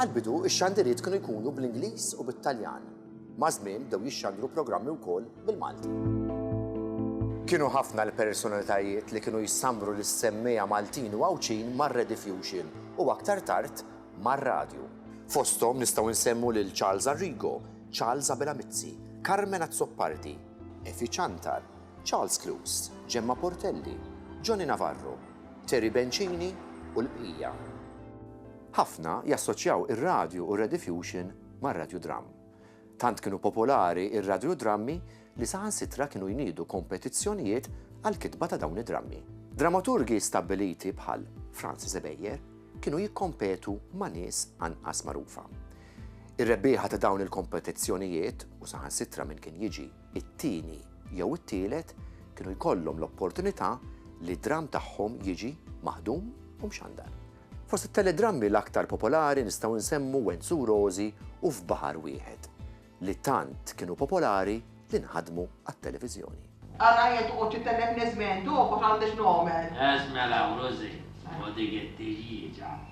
Għall-bidu, ix-xandiriet kienu jkunu bl-Ingliż u bit-Taljan. Maż-żmien bdew jixxandru programmi wkoll bil-Malti. Kienu ħafna l-personalitajiet li kienu jsammru lis-semmiegħa Maltin u Għawdxin mar-rediffusion u aktar tard mar-radju. Fosthom nistgħu nsemmu lil Charles Arrigo, Charles Abela Mizzi, Carmen Azzopardi, Efi Ciantar, Charles Clews, Ġemma Portelli, Johnny Navarro, Terry Bencini u l-bqija. Ħafna jassoċjaw ir-radju u r-rediffusion mar-radjudram. Tant kienu popolari r-radjudrammi li saħansitra kienu jniedu kompetizzjonijiet għall-kitba ta' dawn id-drammi. Dramaturgi stabbiliti bħal Francis Ebejer kienu jikkompetu ma' nies anqas magħrufa. Ir-rebbieħa ta' dawn il-kompetizzjonijiet, u saħansitra min kien jiġi it-tieni jew it-tielet kienu jkollhom l-opportunità li dramm tagħhom jiġi maħdum u mxandar. Fost it-teledrammi l-aktar popolari nistgħu nsemmu Wenzu u Rożi u F'Baħar Wieħed, li tant kienu popolari li nħadmu għat-televiżjoni. Ara jien toqgħod titellefni żmien, dogħba ħa għandi x'nogħmel. Eż mela Rożi, ħu dik it-tiljiġa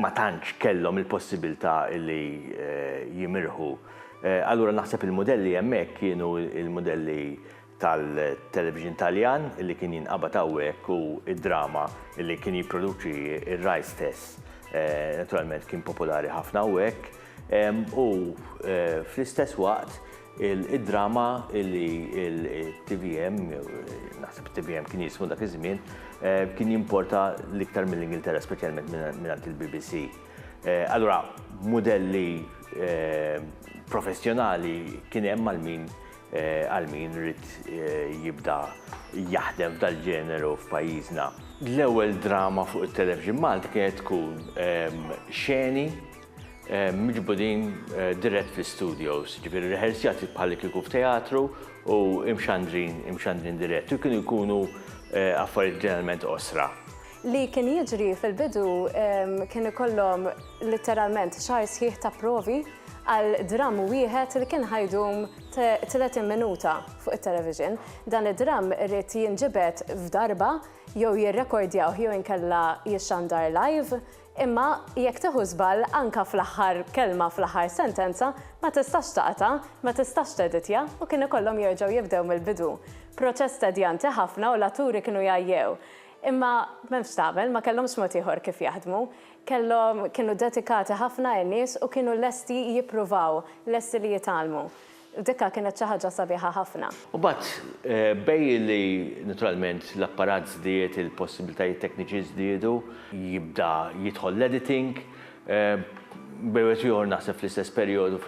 ma tantx kellhom il-possibilità li jimirħu. Allura naħseb il-mudelli hemmhekk kienu l-mudelli tal-television Taljan li kien jinqabad hawnhekk u d-drama li kien jipproduċi r-Rai stess naturalment kien popolari ħafna hawnhekk u fl-istess waqt Id-drama li t-TVM, naħseb it-TVM kien jismu dak iż-żmien, kien jimporta l-iktar mill-Ingilterra, speċjalment mingħand il-BBC. Allura, mudelli professjonali kien hemm għal min għal min ried jibda jaħdem f'dal-ġeneru f'pajjiżna. L-ewwel drama fuq it-televixin Malti kienet tkun xeni miġbudin dirett fl-istudios, jiġifieri rehersjati bħalli kieku f'teatru u imxandrin, imxandrin dirett, u kienu jkunu affarijiet ġeneralment qosra. Li kien jiġri fil-bidu kien ikollhom litteralment xahar sħiħ ta' provi għal dramm wieħed li kien ħa jdum tletin minuta fuq it-television. Dan id-dramm irid jinġibed f'darba jew jirrekordjawh jew inkella jixxandar live Imma jekk tieħu żball anke fl-aħħar kelma fl-aħħar sentenza, ma tistax taqta', ma tistax teditja u kien ikollhom jerġgħu jibdew mill-bidu. Proċess tedjanti ħafna u l-atturi kienu jgħajjew. Imma m'hemm x'tagħmel, ma kellhomx mod ieħor kif jaħdmu. Kellhom, kienu dedikati ħafna in-nies u kienu lesti jippruvaw, lesti li jitgħallmu. Dikka kienet xi ħaġa sabiħa ħafna. U mbagħad bejn li naturalment l-apparat żdied, il-possibilitajiet tekniċi żdiedu, jibda jidħol l-editing, bejn wieħed u ieħor naħseb fl-istess perjodu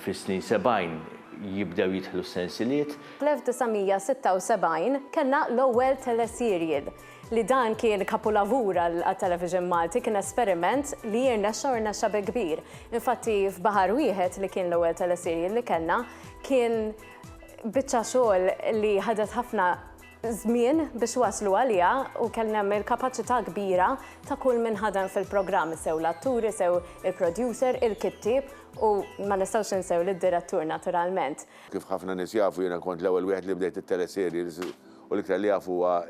fis-snin sebgħin jibdew jidħlu s-sensiliet. Fl-1976 kellna l-ewwel teleserial. li dan kien kapulavur għat-television Malti kien esperiment li irnexxa u rnexxa bi kbir. Infatti f'Baħar Wieħed li kien l-ewwel teleserje li kellna kien biċċa xogħol li ħadet ħafna żmien biex waslu għaliha u kellna hemm il-kapaċità kbira ta' kull min ħadem fil-programm, sew l-atturi, sew il-producer, il-kittieb u ma nistgħux ninsew lid-direttur naturalment. Kif ħafna nies jafu jiena kont l-ewwel wieħed li bdejt it-teleserje. u l-iktar li jaf huwa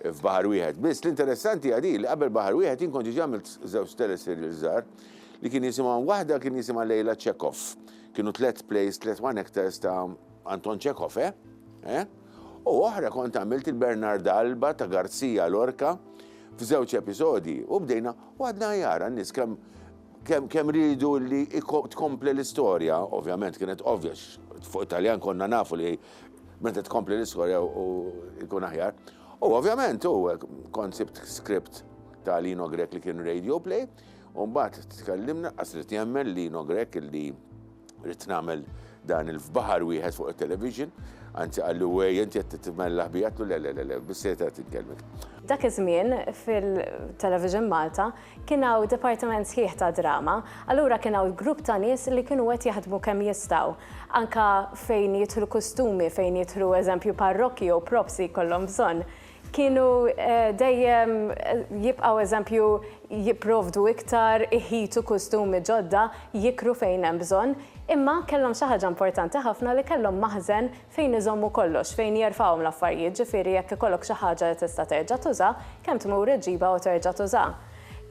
f'baħar wieħed. Biss l-interessanti hija din li qabel baħar wieħed jien kont ġiġi għamilt żewġ teleserial żgħar li kien jisimhom waħda kien jisimha Lejla Chekhov. Kienu tliet plays, tliet one actors ta' Anton Chekhov, eh? eh? U oħra kont għamilt il-Bernard Alba ta' Garzija Lorca f'żewġ episodi u bdejna u għadna jara n-nis kem kem, kem ridu li tkomple l-istorja, ovvjament kienet ovvja fuq Italjan konna nafu li Meta tkompli l-istorja u jkun aħjar. U ovvjament u koncept script ta' Lino Grek li kien radio play, u mbagħad tkellimna qas li jemmen Lino Grek li rrid nagħmel dan il-fbaħar wieħed fuq il-television, anzi għallu għej, inti għed t-tmella ħbijat, le, le, le, le, bisseta t-kelmek. Dak iż-żmien fil-television Malta Kien hawn dipartiment sħiħ ta' drama, allura kien hawn grupp ta' nies li kienu qed jaħdmu kemm jistgħu. Anke fejn jidħlu kustumi, fejn jidħlu eżempju parrokki jew props li jkollhom bżonn, kienu dejjem jibqgħu eżempju jipprovdu iktar, iħitu kustumi ġodda, jikru fejn hemm bżonn, imma kellhom xi ħaġa importanti ħafna li kellhom maħżen fejn iżommu kollox, fejn jerfgħuhom l-affarijiet, ġifieri jekk ikollok xi ħaġa li tista' terġa' tuża, kemm tmur iġġibha u terġa' tuża.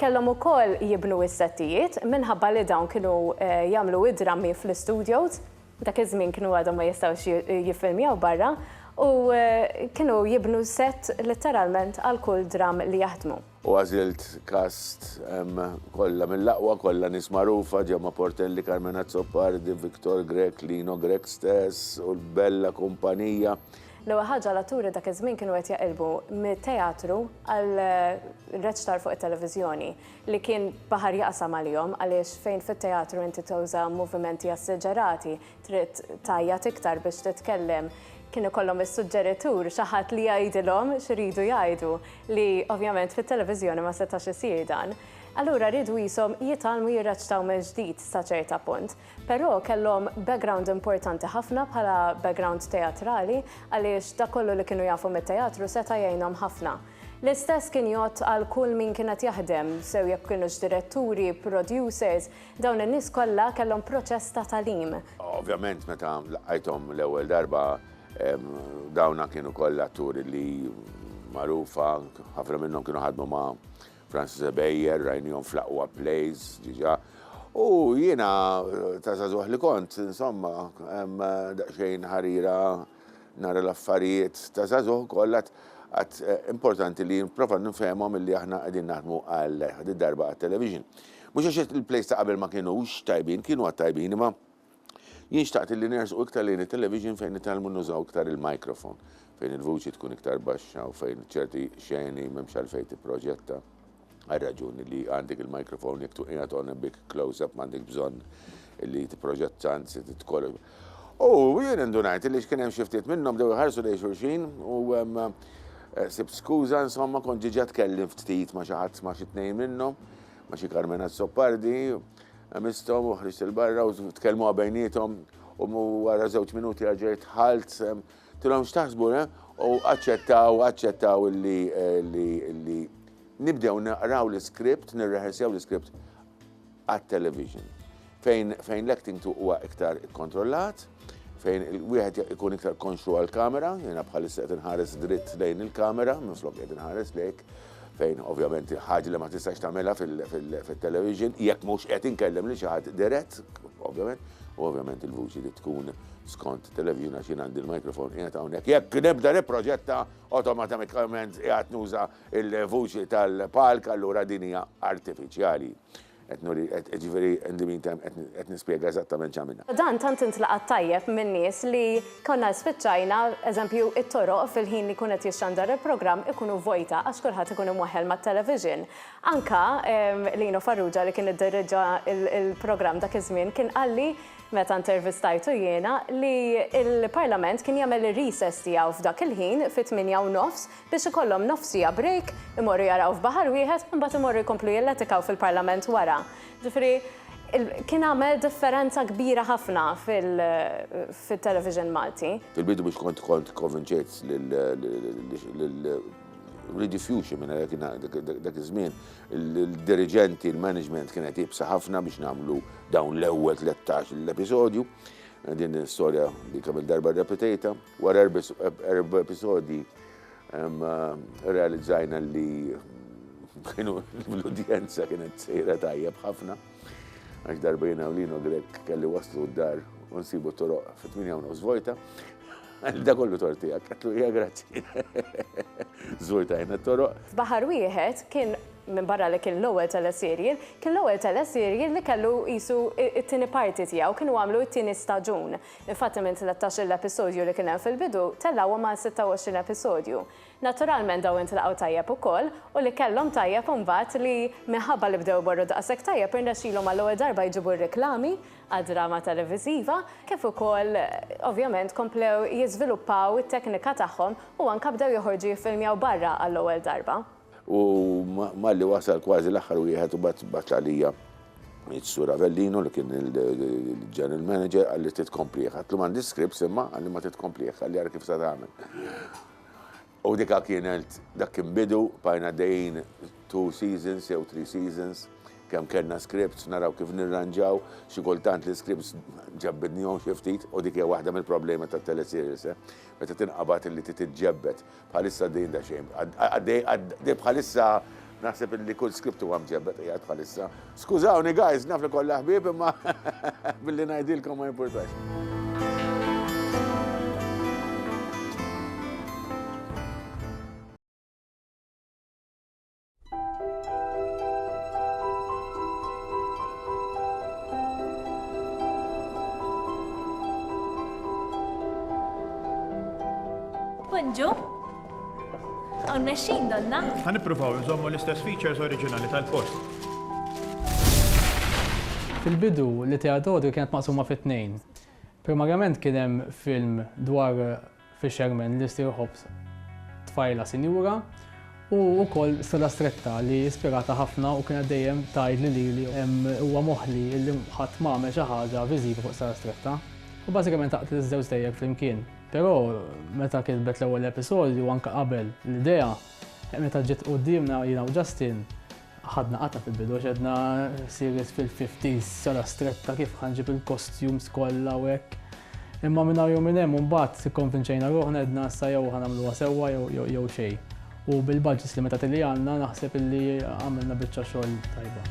Kellhom ukoll jibnu s-settijiet, minħabba li dawn kienu jagħmlu id-drammi fl-istudios, dak iż-żmien kienu għadhom ma jistgħux jiffilmjaw barra, u kienu jibnu sett litteralment għal kull dramm li jaħdmu. U għażilt cast kollha mill-aqwa, kollha nies magħrufa, Gemma Portelli, Carmen Azzopardi, Victor Grech, Lino Grech stess u l-bella kumpanija. L-ewwel ħaġa l-atturi dak iż-żmien kienu qed jaqilbu mit-teatru għal reċtar fuq it-televiżjoni li kien baħar jaqsam għalihom għaliex fejn fit-teatru inti tuża movimenti assiġerati trid tgħajjat iktar biex titkellem, kien ikollhom is-suġġeritur xi ħadd li jgħidilhom x'iridu jgħidu li ovvjament fit-televiżjoni ma setax isir dan. Allura riedu qishom jitgħallmu jirreċtaw mill-ġdid sa ċerta punt. Però kellhom background importanti ħafna bħala background teatrali għaliex dak kollu li kienu jafu mit-teatru seta' jgħinhom ħafna. L-istess kien jgħodd għal kull min kien qed jaħdem, sew jekk kinux diretturi, producers, Dawn in-nies kollha kellhom proċess ta' tagħlim. Ovvjament meta laqajthom l-ewwel darba dawna kienu kollha atturi li magħrufa, ħafna minnhom kienu ħadmu ma' Francis Ebejer, rajnihom fl-aqwa plays diġà. U jiena ta' żagħżugħ li kont, insomma, daqsxejn ħarira nara l-affarijiet ta' żagħżugħ kollha għad importanti li nipprova nifhemhom illi aħna qegħdin naħdmu għal dik darba għat-television. Mhux għax il-plays ta' qabel ma kinux tajbin, kienu għad tajbin, imma jien xtaqt li nersqu iktar lejn it-television fejn nitgħallmu nużaw iktar il-microphone, fejn il-vuċi tkun iktar baxxa u fejn ċerti xeni m'hemmx għalfejn tipproġetta għar-raġuni li għandek il-microphone jekk tkun qiegħed on a big close-up m'għandekx bżonn li tipproġetta anzi titkollok. U jien indunajt li x'kien hemm xi ftit minnhom bdew iħarsu lejn xulxin u sibt skuża insomma kont ġiġa tkellimt ftit ma' xi ħadd ma' xi tnejn minnhom, ma' xi Carmen Azzopardi, għemisthom u ħriġt 'il barra u tkellmuha bejniethom u wara żewġ minuti erġajt dħalt, tilhom x'taħsbu le? U aċċettaw, aċċettaw li nibdew naqraw l-iskript, nirrehersjaw l-iskript. għat-television, fejn fejn l-acting tu huwa iktar ikkontrollat, fejn wieħed ikun iktar konxju għall-kamera, jiena bħalissa qed inħares dritt lejn il-kamera minflok qed inħares lejk, fejn ovvjament ħaġa li ma tistax tagħmilha fit-television, jekk mhux qed inkellem lil xi ħadd dirett, ovvjament, u ovvjament il-vuċi li tkun skont television għax jien għandi l-microphone qiegħed hawnhekk. Jekk nibda nipproġetta, awtomatatikament qiegħed nuża Il-vuċi tal-palk allura din hija artifiċjali. Qed nuri, qed, jiġifieri in the meantime qed, qed nispjega eżattament x'għamilna. Dan tant intlaqat tajjeb min-nies li konna spiċċajna, eżempju, it-toroq fil-ħin li jkun qed jixxandar il-programm ikunu vojta għax kulħadd ikun imwaħħel mat-television. Anke Lino Farrugia li kien iddirriġġa l-programm dak iż-żmien kien qalli, meta intervistajtu jiena, li l-Parlament kien jagħmel ir-recess tiegħu f'dak il-ħin, fit-tmienja u nofs, biex ikollhom nofs siegħa break, imorru jaraw f'baħar wieħed u mbagħad imorru jkomplu jilletikaw fil-Parlament wara. Ġifieri kien għamel differenza kbira ħafna fit-television Malti. Fil-bidu biex kont kont konvinċejt lil Rudy Fuchs minn għalhekk dak iż-żmien il-diriġenti, il-management kienet iebsa ħafna biex nagħmlu dawn l-ewwel tlettax-il episodju. Din l-istorja li kemm-il darba rrepetejtha. Wara erba' episodji rrealizzajna li kienu l-udjenza kienet sejra tajjeb ħafna għax darba jiena u Lino Grek kelli waslu d-dar u nsibu toroq fit-8 u nofs vojta. Da kollu tortijak, għatlu hija grazzi. Żvojtajna t-toroq. F'baħar wieħed kien minn barra li kien l-ewwel teleserial, kien l-ewwel teleserial li kellu qisu t-tieni parti tiegħu, kienu għamlu t-tieni staġun. Infatti minn tlettax-il episodju li kien hemm fil-bidu, tellgħuhom għal sitta u għoxrin episodju. Naturalment dawn intlaqgħu tajjeb ukoll u li kellhom tajjeb imbagħad li minħabba li bdew imorru daqshekk tajjeb irnexxilhom għall-ewwel darba jġibu r-riklami għad-drama televiżiva kif ukoll ovvjament komplew jiżviluppaw it-teknika tagħhom u anke bdew joħorġu jiffilmjaw barra għall-ewwel darba. U malli wasal kważi l-aħħar wieħed u mbagħad bagħat għalija s-Sur Avellino li kien il-General Manager qalli trid tkomplih. Għatlu m'għandix scripts imma qalli ma trid tkomplih, qalli ara kif se tagħmel. U dika kienet dak kien bidu, bqajna għaddejjin two seasons jew three seasons kemm kellna scripts naraw kif nirranġaw, xi kultant l-iscripts ġebbidnihom xi ftit u dik hija waħda mill-problemi tat-teleserials, meta tinqabad li trid tiġġebbed Bħalissa għaddejjin daqsxejn, għaddej, għaddej bħalissa naħseb illi kull script huwa mġebbed qiegħed bħalissa. Skużawni guys, naf li kollha ħbieb imma billi ngħidilkom ma jimpurtax. Bonġu. Għon meċin donna. Għan ippruvaw nżommu l-istess features oriġinali tal-post. Fil-bidu li teadodu kienet maqsuma fit-tnejn. Primarjament kien hemm film dwar Fisherman li ssir ħobż tfajla sinjura u wkoll Sala Stretta li ispiratha ħafna u kienet dejjem tgħidli lili huwa moħħli li ħadd ma għamel xi ħaġa viżiva fuq Sala Stretta. U bażikament għaqdet iż-żewġ dejjek flimkien. Però meta kitbet l-ewwel episodju u anke qabel l-idea, meta ġiet quddiemna jiena u Justin, Ħadna qatgħa fil-bidu għax għedna serious fil-fifties, sala stretta kif ħa nġib il-costumes kollha u hekk. Imma minn hawn jew minn hemm u mbagħad ikkonvinċejna ruħna għedna issa jew ħa nagħmluha sewwa jew xejn. U bil-budgets limitati li għandna naħseb illi għamilna biċċa xogħol tajba.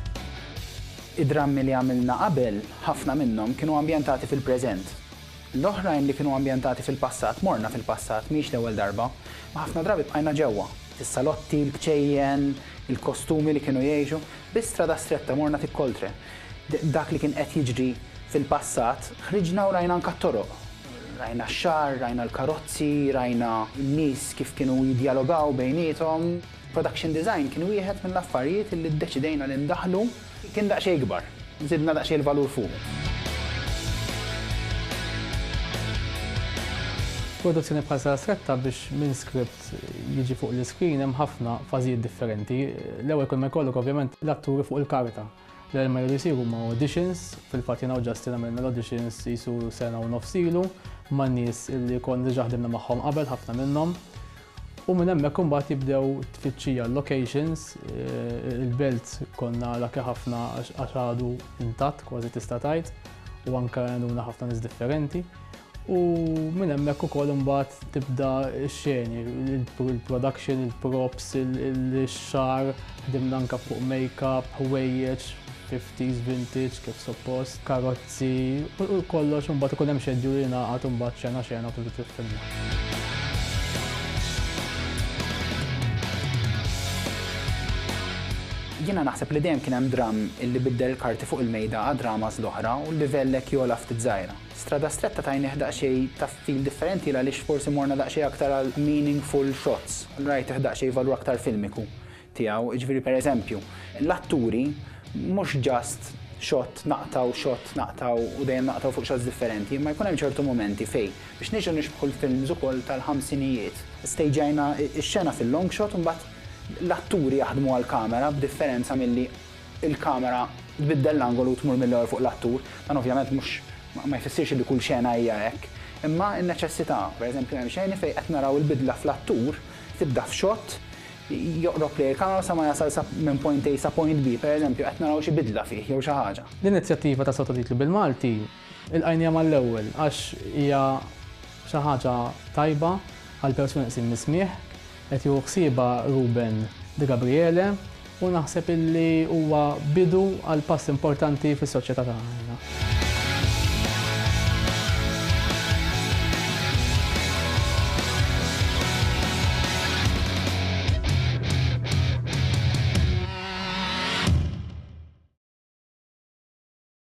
Id-drammi li għamilna qabel, ħafna minnhom kienu ambjentati fil-preżent. L-oħrajn li kienu ambjentati fil-passat morna fil-passat, mhix l-ewwel darba, u ħafna drabi bqajna ġewwa. Is-salotti, il-kċejjen, il-kostumi li kienu jgħixu. Bi strada stretta morna fi Coltre. Dak li kien qed jiġri fil-passat, ħriġna u rajna anka t-toroq. Rajna x-xagħar, rajna l-karozzi, rajna n-nies kif kienu jiddjalogaw bejniethom. Production design kien wieħed mill-affarijiet li ddeċidejna li ndaħħlu. Kien daqsxejn ikbar. Żidna daqsxejn il-valur fuqu. Produzzjoni bħal Sala Stretta biex minn script qed jiġi fuq l-iskrin hemm ħafna fażijiet differenti. L-ewwel kull ma jkollok ovvjament l-atturi fuq il-karta. L-ewwel ma jridu jsiru ma' auditions, fil-fatt jiena u Justin għamilna l-auditions jisu sena u nofs ilu ma' nies li konna diġà ħdimna magħhom qabel ħafna minnhom. U minn hemmhekk imbagħad jibdew tfittxija l-locations, eh, il-belt konna laki ħafna għax għadu intatt kważi tista' tgħid u anke għanduna ħafna nies differenti. U minn hemmhekk ukoll imbagħad tibda x-xeni, il-production, il-props, il-xar, ħdimna anke fuq make-up, ħwejjeġ, 50s, vintage, kif suppost, karozzi, u kollox imbagħad ikun hemm xedju li jingħaqad imbagħad xena xena u tibda tiffilma. Jiena naħseb li dejjem kien hemm dramm illi biddel il-karti fuq il-mejda għad-dramas l-oħra u l-livell hekk jogħla ftit żgħira. Strada stretta tajnih daqsxejn ta' feel differenti ghaliex forsi morna daqsxejn aktar għal meaningful shots. Rajtih daqsxejn valur aktar filmiku tiegħu. Jiġifieri per eżempju, l-atturi mhux just shot naqtgħu, shot naqtgħu u dejjem naqtgħu fuq shots differenti imma jkun hemm ċertu mumenti fej, biex niġu nixbħu l-films ukoll tal-ħamsinijiet, stagejna x-xena fil-long shot u mbagħad l-atturi jaħdmu għall-kamera b'differenza milli il-kamera tbiddel l-angolu u tmur mill-ewwel fuq l-attur. Dan ovvjament mhux ma jfissirx li kull xena hija hekk, imma n-neċessità. Pereżempju hemm xeni fejn qed naraw il-bidla fl-attur, tibda f'shot, joqrob lejn il-kamera sa ma jasal sa minn point A sa point B, pereżempju qed naraw xi bidla fih jew xi ħaġa. L-inizjattiva ta' sottotitlu bil-Malti Ilqajniha mal-ewwel għax hija xi ħaġa tajba għall-persuni neqsin mis-smigħ. Qed jieħu ħsiebha Ruben de Gabriele u naħseb illi huwa bidu għal pass importanti fis-soċjetà tagħna.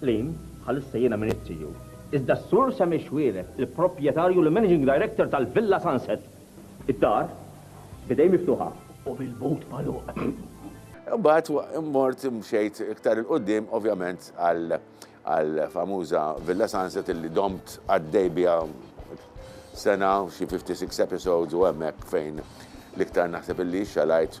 Qlim, Bħalissa jiena m'iniex CEO. Iżda s-Sur Sammy Xuereb, il-proprjetarju li managing director tal-Villa Sunset. Id-dar, b'idejn miftuħa u bil-but magħluq. Imbagħad mort mxejt iktar 'il quddiem ovvjament għall-famuża Villa Sunset illi domt għaddej biha sena, xi fifty six episodes u hemmhekk fejn l-iktar naħseb illi xxalajt.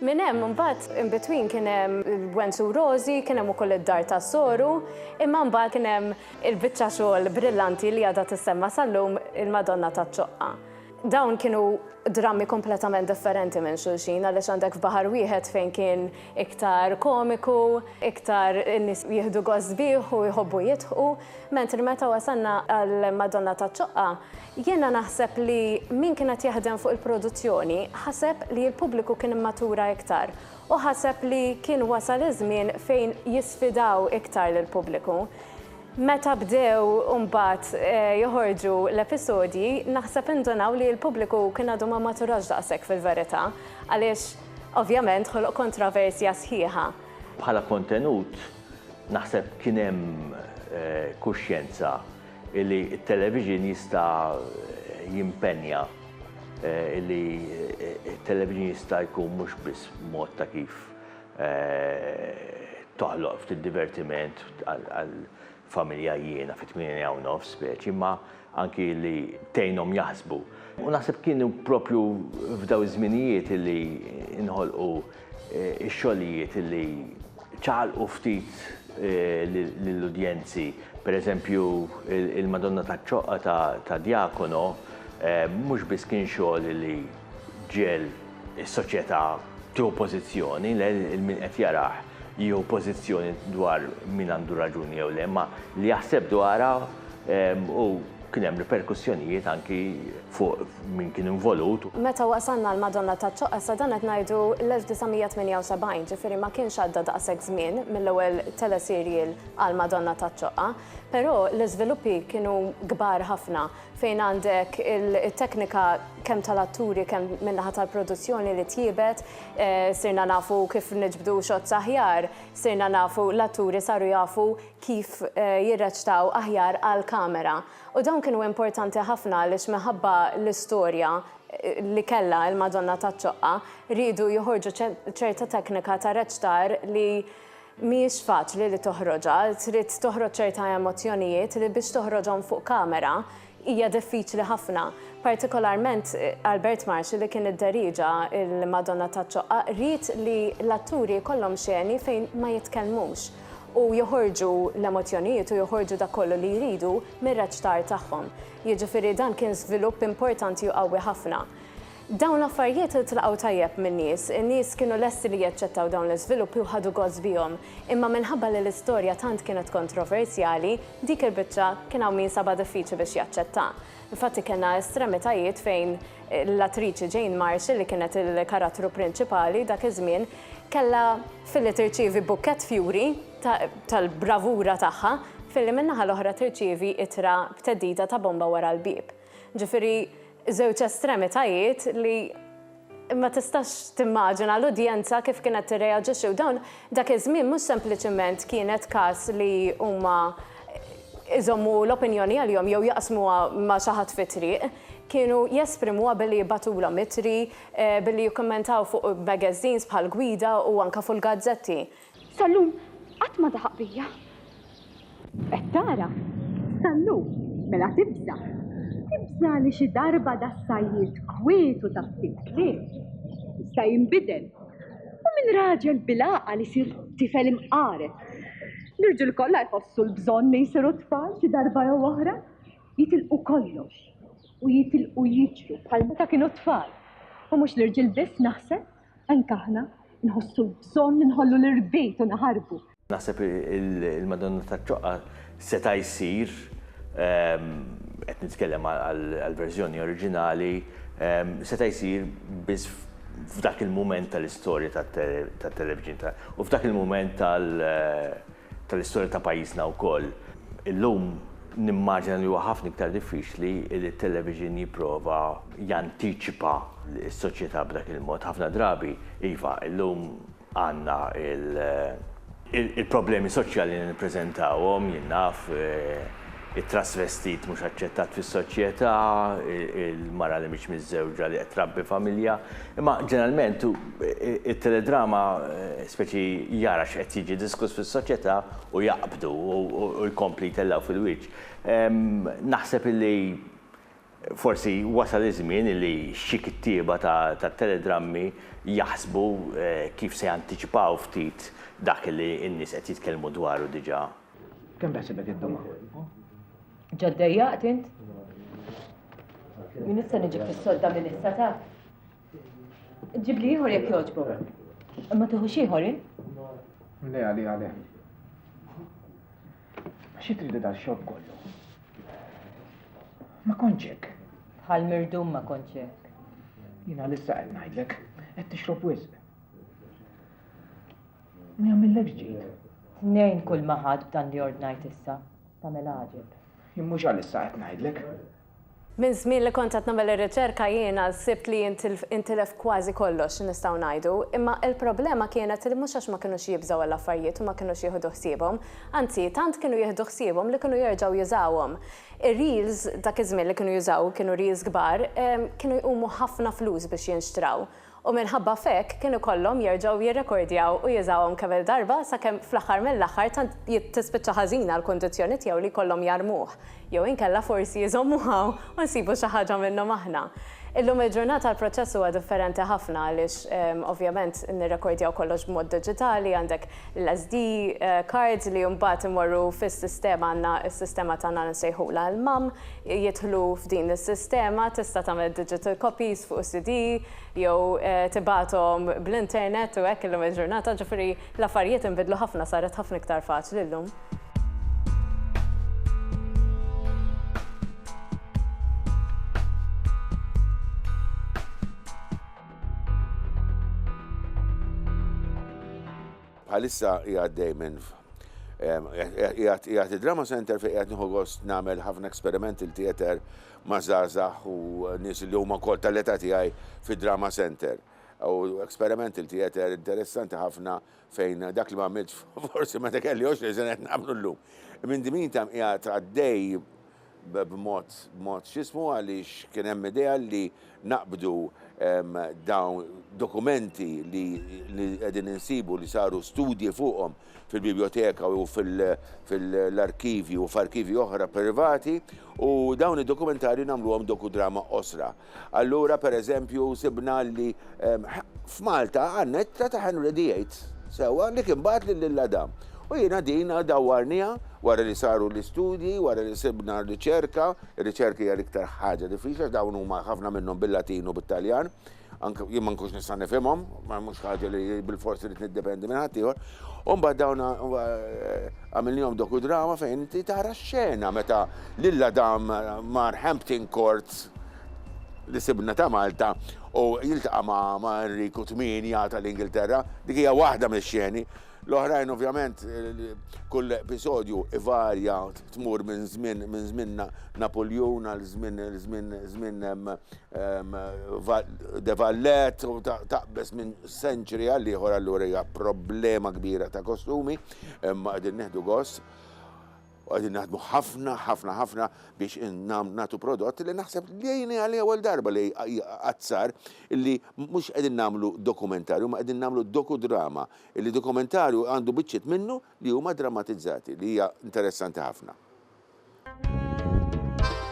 Minn hemm imbagħad in between kien hemm il-Gwen Su Rożi, kien hemm ukoll id-Dar tas-Soru, imma mbagħad kien hemm il-biċċa xogħol brillanti li għadha tissemma' sal-lum il-Madonna taċ-Ċoqqa. Dawn kienu drammi kompletament differenti minn xulxin għaliex għandek f'baħar wieħed fejn kien iktar komiku, iktar in-nies jieħdu gost bih u jħobbu jidħqu, mentri meta wasalna għall-Madonna taċ-Ċoqqa Jiena naħseb li min kien qed jaħdem fuq il-produzzjoni ħaseb li l-pubbliku kien immatura iktar u ħaseb li kien wasal iż-żmien fejn jisfidaw iktar lill-pubbliku. Meta bdew imbagħad joħorġu l-episodji naħseb indunaw li l-pubbliku kien għadu ma maturax daqshekk fil-verità għaliex ovvjament ħoloq kontroversja sħiħa. Bħala kontenut naħseb kien hemm kuxjenza illi t-televixin jista' jimpenja, illi t-televixin jista' jkun mhux biss mod ta' kif toħloq ftit divertiment għall-familja jiena fit-tmienja u nofs speċi, imma anki li tgħinhom jaħsbu. U naħseb kienu proprju f'dawn iż-żminijiet illi nħolqu Ix-xogħlijiet li ċaqalqu ftit lill-udjenzi, pereżempju il-Madonna taċ-Ċoqqa ta' Diakono, mhux biss kien xogħol li ġiegħel is-soċjetà tieħu pożizzjoni, le, il-min qed jarah jieħu pożizzjoni dwar min għandu raġuni jew le, imma li jaħseb dwarha u Kien hemm riperkussjonijiet anki fuq min kien involut. Meta wasalna għal Madonna taċ-Ċoqqa, sa dan qed ngħidu l-1978, ġifieri ma kienx għadda daqshekk żmien mill-ewwel teleserial għal Madonna taċ-Ċoqqa, però l-iżviluppi kienu kbar ħafna fejn għandek it-teknika kemm tal-atturi kemm min-naħa tal-produzzjoni li tjiebet, sirna nafu kif niġbdu shots aħjar, sirna nafu l-atturi saru jafu kif jirreċtaw aħjar għall-kamera. U dawn kienu importanti ħafna għaliex minħabba l-istorja li kellha il-Madonna taċ-Ċoqqa, riedu joħorġu ċerta teknika ta' reċtar li mhijiex faċli li toħroġha, trid toħroġ ċerta emozzjonijiet li biex toħroġhom fuq kamera Hija diffiċli ħafna. Partikolarment Albert Marxi li kien idderieġa l-Madonna taċ-Ċoqqa ried li l-atturi jkollhom xeni fejn ma jitkellmux u joħorġu l-emozzjonijiet u joħorġu dak kollu li jridu mir-reċtar tagħhom. Jiġifieri dan kien żvilupp importanti u qawwi ħafna. Dawn l-affarijiet iltlaqgħu tajjeb min-nies. In-nies kienu lesti li jaċċettaw dawn l-iżviluppi u ħadu gost bihom. Imma minħabba li l-istorja tant kienet kontroversjali, dik il-biċċa kien hawn min sabha diffiċli biex jaċċettha. Infatti kellna estremitajiet fejn l-attriċi Jane Marshall, li kienet il-karattru prinċipali dak iż-żmien, kellha, filli tirċievi bukkett fjuri tal-bravura tagħha, filli min-naħa l-oħra tirċievi ittra b'theddida ta' bomba wara l-bieb. Ġifieri żewġ estremitajiet li ma tistax timmaġina l-udjenza kif kienet tirreaġixxi u dawn dak iż-żmien mhux sempliċement kienet każ li huma jżommu l-opinjoni għalihom jew jaqsmuha ma' xi ħadd fit-triq, kienu jesprimuha billi jibgħatulhom ittri, billi jikkummentaw fuq magazines bħall-Gwida u anke fuq il-gazzetti. Sal-lum qatt ma daħaq bija. Qed tara? Sal-lum, mela tibża'. Tibża' li xi darba das-sajjied kwietu ta' ftit kliem jista' jinbidel u minn raġel bil-għaqal isir tifel imqareb. L-irġiel kollha jħossu l-bżonn li jsiru tfal xi darba jew oħra, jitilqu kollox u jitilqu jiġru bħal meta kienu tfal. U mhux l-irġiel biss naħseb. Anke aħna nħossu l-bżonn li nħollu l-irbit u naħarbu. Naħseb il-Madonna taċ-Ċoqqa seta' jsir, qed nitkellem għall-verżjoni oriġinali, seta' jsir biss f'dak il-mument tal-istorja tat-televixin u f'dak il-mument tal-, tal-istorja ta' pajjiżna wkoll. Illum nimmaġina li huwa ħafna iktar diffiċli li t-television jipprova jantiċipa s-soċjetà b'dak il-mod. Ħafna drabi, iva, illum għandna il-problemi soċjali li nippreżentawhom, jien naf, it-trasvestit mhux aċċettat fis-soċjetà, il-mara li mhix miżżewġa li qed trabbi familja. Imma ġeneralment it-teledrama speċi jara x'qed jiġi diskuss fis-soċjetà u jaqbdu u jkompli jtellgħu fil-wiċċ. Naħseb illi forsi wasal iż-żmien illi xi kittieba tat-teledrammi jaħsbu kif se jantiċipaw ftit dak illi n-nies qed jitkellmu dwaru diġà. Kemm taħsibek iddum hawn? Ġa ddejjaqt int? Min issa niġi fis-sodda minn issa ta? Ġib li ieħor jekk jogħġbok. Ma tieħux ieħor int? Le, għali, għali. Xi tridu dal-xogħol kollu? Ma konċek. Bħal mirdum ma konċek. Jina l-issa qed ngħidlek, qed tixrob wisq. Ma jagħmillekx ġid. Tnejn kull ma ħadt b'dan li ordnajt issa, tagħmel għaġeb. Jien mhux għalissa qed ngħidlek. Minn żmien li kont qed nagħmel ir-riċerka jiena sibt li intilef kważi kollox, nistgħu ngħidu. Imma l-problema kienet li mhux għax ma kinux jibżgħu għall-affarijiet u ma kinux jieħdu ħsiebhom. Anzi, tant kienu jieħdu ħsiebhom li kienu jerġgħu jużawhom. Ir-reels, dak iż-żmien li kienu jużaw kienu reels kbar, kienu jqumu ħafna flus biex jinxtraw. u minħabba f'hekk kienu jkollhom jerġgħu jirrekordjaw u jużawhom kemm-il darba sakemm fl-aħħar mill-aħħar tant tispiċċa ħażina l-kundizzjoni tiegħu li jkollhom jarmuh, jew inkella forsi jżommuh hawn u nsibu xi ħaġa minnhom aħna. Illum il-ġurnata l-proċess huwa differenti ħafna għaliex ovvjament nirrekordjaw kollox b'mod diġitali, għandek l-SD cards li mbagħad imorru fis-sistema, għandna s-sistema tagħna li nsejħulha l-MAM, jidħlu f'din is-sistema, tista' tagħmel digital copies fuq is-CD jew tibgħathom bl-internet u hekk illum il-ġurnata, ġifieri l-affarijiet inbidlu ħafna saret ħafna iktar faċli llum. Bħalissa hija għaddej minn jgħat id-Drama Center fi jgħat nieħu gost nagħmel ħafna experimental theater ma' żgħażagħ u nies li huma wkoll tal-età tiegħi fid-Drama Center. U experimental theater interessanti ħafna fejn dak li ma għamilt forsi meta kelli 20 sena qed nagħmlu llum. Minn dimin tam qiegħed għaddej b'mod, b'mod x'ismu għaliex kien hemm idea li naqbdu dawn dokumenti li qegħdin insibu li saru studji fuqhom fil-bibljoteka u fil-arkivji u f'arkivji oħra privati u dawn id-dokumentarji nagħmluhom dokudrama qosra. Allura, per eżempju, sibna li f'Malta għandna ittra ta' Henry VIII, sewwa, li kien bagħat lil Lil Adam. U jiena din dawwarniha wara li saru l-istudji, wara li sibna r-riċerka, ir-riċerka hija l-iktar ħaġa diffiċli għax dawn huma ħafna minnhom bil-Latin u bit-Taljan, anke jien ma nkunx nista' nifhimhom, ma mhux ħaġa li bilfors irid niddependi minn ħaddieħor. U mbagħad dawn għamilnihom dokudrama fejn inti tara x-xena meta Lil Adam mar Hampton Courts li sibna ta' Malta u jiltaqa' ma' Enriku Tmienja tal-Ingilterra, dik hija waħda mix-xeni. L-oħrajn ovvjament kull episodju ivarja tmur minn żmien minn żmien Napuljun għal żmien żmien żmien De Vallet u taqbeż minn century għal ieħor allura hija problema kbira ta' kostumi imma qegħdin nieħdu gost. U qegħdin naħdmu ħafna, ħafna, ħafna biex nagħtu prodott li naħseb li jgħini għal ewwel darba li qatt sar li mhux qegħdin nagħmlu dokumentarju, imma qegħdin nagħmlu dokudrama, li dokumentarju għandu biċċiet minnu li huma drammatizzati, li hija interessanti ħafna.